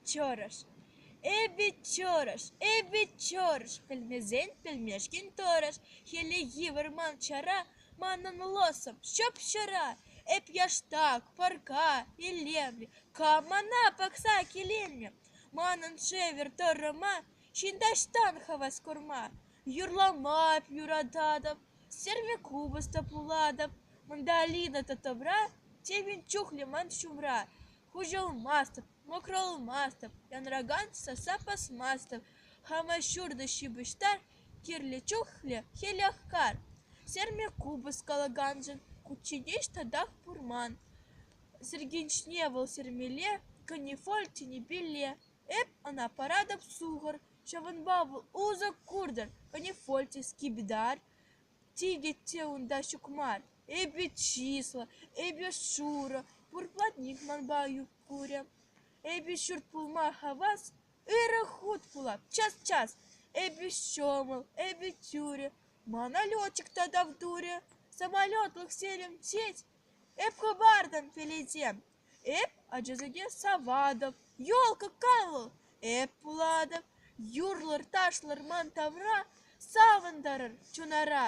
Чӑрӑш. Эпӗ чӑрӑш, эпӗ чӑрӑш, пӗлмесен пӗлмешкӗн тӑрӑш. Хӗллехи вӑрман чара манӑн лӑсӑм ҫӑп-ҫӑра. Эп яштак, пӑрка, илемлӗ, кам мана пӑхса киленнӗ? Манӑн шӗвӗр тӑрӑма Ҫын таҫтан хӑвӑс курма юрлама юрататӑп, сӗрме купӑс та пулатӑп. Манта Алина та тӑпра, темӗн чухлӗ ман ҫумра. Хуҫӑлмастӑп, мӑкрӑлмастӑп, янракан сасса пӑсмастӑп. Хама ҫуртӑ ҫыпӑҫтар, кирлӗ чухлӗ хӗлех кар. Сӗрме купӑс калаканшӑн кучченеҫ татах пур ман. Сӗркенҫне вӑл сӗрмелле, канифоль тӗнӗпелле. Эп ӑна паратӑп сухӑр, ҫавӑнпа вӑл усӑ куртӑр, канифольте, скибидар тикӗ те унта ҫук мар. Эпӗ чыслӑ, эпӗ шурӑ, пур платник манпа ют курӗ. Эпӗ ҫурт пулма хавас, ырӑ хут пулап, час-час. Эпӗ ҫӑмӑл, эпӗ тӳрӗ, мана летчик та тав турӗ. Самолетлӑх серим тет, эп хӑпартӑм пеледем. Эп ачасене саватӑп, елка калӑ, эп пулатӑп, юрлӑр-ташлӑр ман тавра, савӑнтарӑр чунара.